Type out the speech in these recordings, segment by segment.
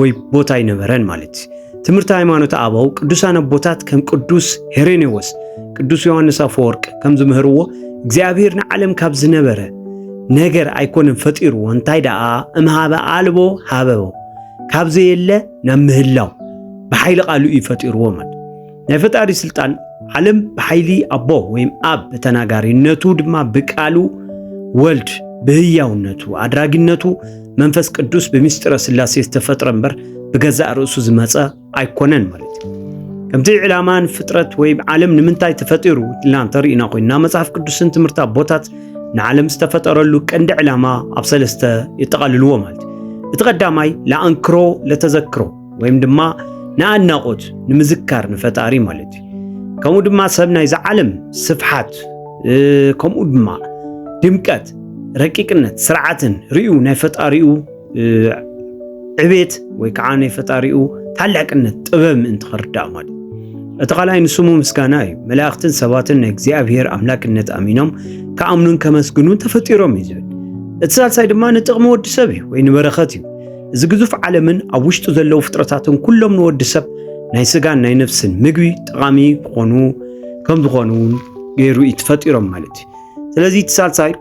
ወይ ቦታ ኣይነበረን ማለት እዩ። ትምህርቲ ሃይማኖት ኣበው ቅዱሳን ኣቦታት ከም ቅዱስ ሄሬኔዎስ፣ ቅዱስ ዮሐንስ ኣፈወርቅ ከም ዝምህርዎ እግዚኣብሔር ንዓለም ካብ ዝነበረ ነገር ኣይኮነን ፈጢርዎ እንታይ ደኣ እምሃበ ኣልቦ ሃበቦ ካብ ዘየለ ናብ ምህላው ብሓይሊ ቃሉ እዩ ፈጢርዎ ማለት ናይ ፈጣሪ ስልጣን ዓለም ብሓይሊ ኣቦ ወይም ኣብ ብተናጋሪነቱ ድማ ብቃሉ ወልድ ብህያውነቱ ኣድራጊነቱ መንፈስ ቅዱስ ብምስጢረ ስላሴ ዝተፈጥረ እምበር ብገዛእ ርእሱ ዝመፀ ኣይኮነን ማለት እዩ ከምቲ ዕላማን ፍጥረት ወይ ዓለም ንምንታይ ተፈጢሩ ኢልና እንተርእና ኮይና መጽሓፍ ቅዱስን ትምህርቲ ኣቦታት ንዓለም ዝተፈጠረሉ ቀንዲ ዕላማ ኣብ ሰለስተ የጠቓልልዎ ማለት እዩ እቲ ቀዳማይ ለኣንክሮ ለተዘክሮ ወይም ድማ ንኣድናቖት ንምዝካር ንፈጣሪ ማለት እዩ ከምኡ ድማ ሰብ ናይዚ ዓለም ስፍሓት ከምኡ ድማ ድምቀት ረቂቅነት ስርዓትን ርዩ ናይ ፈጣሪኡ ዕቤት ወይ ከዓ ናይ ፈጣሪኡ ታላቅነት ጥበብ ምእንቲ ክርዳእ ማለት እቲ ካልኣይ ንስሙ ምስጋና እዩ መላእኽትን ሰባትን ናይ እግዚኣብሔር ኣምላክነት ኣሚኖም ከኣምኑን ከመስግኑን ተፈጢሮም እዩ ዝብል እቲ ሳልሳይ ድማ ንጥቕሚ ወዲ ሰብ እዩ ወይ ንበረኸት እዩ እዚ ግዙፍ ዓለምን ኣብ ውሽጡ ዘለዉ ፍጥረታትን ኩሎም ንወዲ ሰብ ናይ ስጋን ናይ ነፍስን ምግቢ ጠቓሚ ክኾኑ ከም ዝኾኑ እውን ገይሩ እዩ ተፈጢሮም ማለት እዩ ስለዚ እቲ ሳልሳይ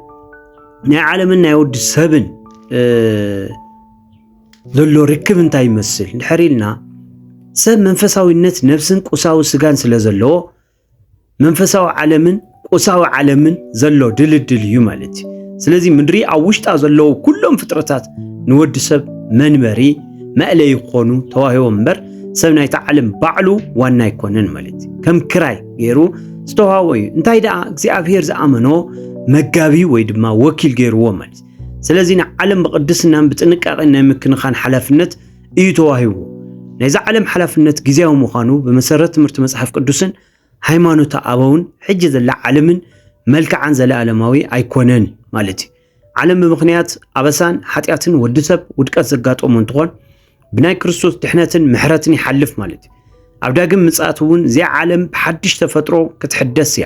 ናይ ዓለምን ናይ ወዲ ሰብን ዘሎ ርክብ እንታይ ይመስል ድሕር ኢልና ሰብ መንፈሳዊነት ነብስን ቁሳዊ ስጋን ስለ ዘለዎ መንፈሳዊ ዓለምን ቁሳዊ ዓለምን ዘሎ ድልድል እዩ ማለት እዩ ስለዚ ምድሪ ኣብ ውሽጣ ዘለዉ ኩሎም ፍጥረታት ንወዲ ሰብ መንበሪ መእለይ ክኾኑ ተዋሂቦም እምበር ሰብ ናይቲ ዓለም ባዕሉ ዋና ኣይኮነን ማለት እዩ ከም ክራይ ገይሩ ዝተዋህቦ እዩ እንታይ ደኣ እግዚኣብሄር ዝኣመኖ መጋቢ ወይ ድማ ወኪል ገይርዎ ማለት እዩ ስለዚ ንዓለም ብቅድስናን ብጥንቃቄን ናይ ምክንኻን ሓላፍነት እዩ ተዋሂቡ። ናይዛ ዓለም ሓላፍነት ግዜያዊ ምዃኑ ብመሰረት ትምህርቲ መጽሓፍ ቅዱስን ሃይማኖተ ኣበውን ሕጂ ዘላ ዓለምን መልክዓን ዘለኣለማዊ ኣይኮነን ማለት እዩ። ዓለም ብምኽንያት ኣበሳን ሓጢኣትን ወዲ ሰብ ውድቀት ዘጋጠሞ እንትኾን ብናይ ክርስቶስ ድሕነትን ምሕረትን ይሓልፍ ማለት እዩ። ኣብ ዳግም ምጽኣት እውን እዚኣ ዓለም ብሓድሽ ተፈጥሮ ክትሕደስ እያ።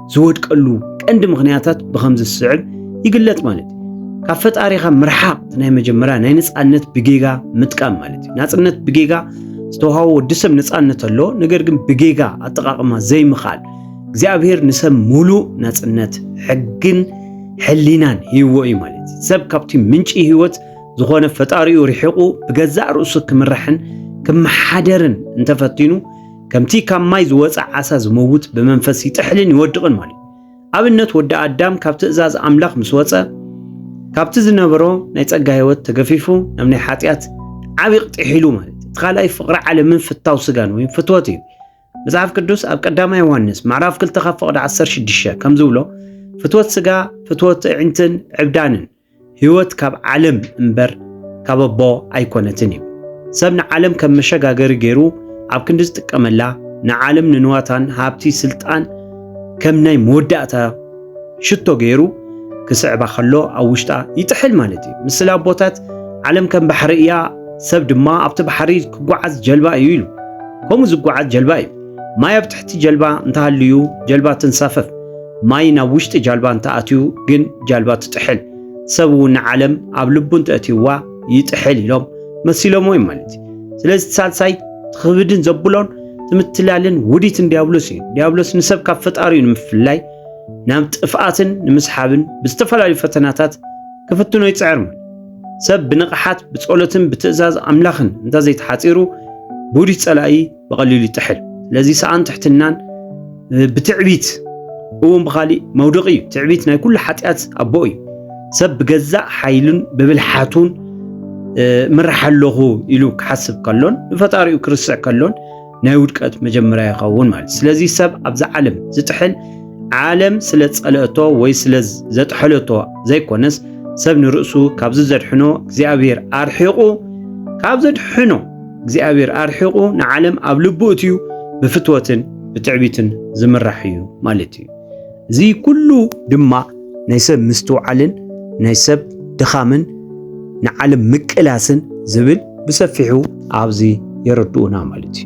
ዝወድቀሉ ቀንዲ ምኽንያታት ብኸምዚ ዝስዕብ ይግለጽ ማለት እዩ። ካብ ፈጣሪኻ ምርሓቕ እቲ ናይ መጀመርያ ናይ ነፃነት ብጌጋ ምጥቃም ማለት እዩ። ናፅነት ብጌጋ ዝተውሃቦ ወዲ ሰብ ነፃነት ኣሎ፣ ነገር ግን ብጌጋ ኣጠቃቅማ ዘይምኽኣል እግዚኣብሔር ንሰብ ሙሉእ ናፅነት ሕግን ሕሊናን ሂይዎ እዩ ማለት እዩ። ሰብ ካብቲ ምንጪ ህይወት ዝኾነ ፈጣሪኡ ርሒቑ ብገዛእ ርእሱ ክምራሕን ክመሓደርን እንተፈቲኑ ከምቲ ካብ ማይ ዝወፀ ዓሳ ዝመውት ብመንፈስ ይጥሕልን ይወድቕን ማለት እዩ። ኣብነት ወዲ ኣዳም ካብ ትእዛዝ ኣምላኽ ምስ ወፀ ካብቲ ዝነበሮ ናይ ጸጋ ህይወት ተገፊፉ ናብ ናይ ሓጢኣት ዓብዪ ቕጢሕ ኢሉ ማለት እቲ ካልኣይ ፍቕሪ ዓለምን ፍታው ስጋን ወይም ፍትወት እዩ። መጽሓፍ ቅዱስ ኣብ ቀዳማ ዮሃንስ ምዕራፍ 2 ካብ ፍቕዲ 16 ከም ዝብሎ ፍትወት ስጋ ፍትወት ኣዒንትን ዕብዳንን ህይወት ካብ ዓለም እምበር ካብ ኣቦ ኣይኰነትን እዩ። ሰብ ንዓለም ከም መሸጋገሪ ገይሩ ኣብ ክንዲ ዝጥቀመላ፣ ንዓለም ንንዋታን ሃብቲ ስልጣን ከም ናይ መወዳእታ ሽቶ ገይሩ ክስዕባ ከሎ ኣብ ውሽጣ ይጥሕል ማለት እዩ። ምስል ኣቦታት ዓለም ከም ባሕሪ እያ፣ ሰብ ድማ ኣብቲ ባሕሪ ክጓዓዝ ጀልባ እዩ ኢሉ። ከምኡ ዝጓዓዝ ጀልባ እዩ። ማይ ኣብ ትሕቲ ጀልባ እንተሃልዩ ጀልባ ትንሳፈፍ፣ ማይ ናብ ውሽጢ ጃልባ እንተኣትዩ ግን ጃልባ ትጥሕል፣ ሰብ እውን ንዓለም ኣብ ልቡ እንተእትዩዋ ይጥሕል ኢሎም መሲሎምዎ እዮም ማለት እዩ። ስለዚ እቲ ሳልሳይ ትኽብድን ዘብሎን ትምትላልን ውዲትን ዲያብሎስ እዩ። ዲያብሎስ ንሰብ ካብ ፈጣሪኡ ንምፍላይ ናብ ጥፍኣትን ንምስሓብን ብዝተፈላለዩ ፈተናታት ክፍትኖ ይፅዕር ማለት ሰብ ብንቕሓት ብጸሎትን ብትእዛዝ ኣምላኽን እንተዘይተሓጺሩ ብውዲት ጸላኢ ብቐሊሉ ይጥሕል። ስለዚ ሰኣን ትሕትናን ብትዕቢት እውን ብኻሊእ መውደቂ እዩ። ትዕቢት ናይ ኩሉ ሓጢኣት ኣቦ እዩ። ሰብ ብገዛእ ሓይሉን ብብልሓቱን ምራሕ ኣለኹ ኢሉ ክሓስብ ከሎን ንፈጣሪኡ ክርስዕ ከሎን ናይ ውድቀት መጀመርያ ይኸውን ማለት ስለዚ ሰብ ኣብዚ ዓለም ዝጥሕል ዓለም ስለ ጸለእቶ ወይ ስለ ዘጥሐለቶ ዘይኮነስ ሰብ ንርእሱ ካብዚ ዘድሕኖ እግዚኣብሔር ኣርሒቑ ካብ ዘድሕኖ እግዚኣብሔር ኣርሒቑ ንዓለም ኣብ ልቡ እትዩ ብፍትወትን ብትዕቢትን ዝምራሕ እዩ ማለት እዩ። እዚ ኩሉ ድማ ናይ ሰብ ምስትውዓልን ናይ ሰብ ድኻምን ንዓለም ምቅላስን ዝብል ብሰፊሑ ኣብዚ የረድኡና ማለት እዩ።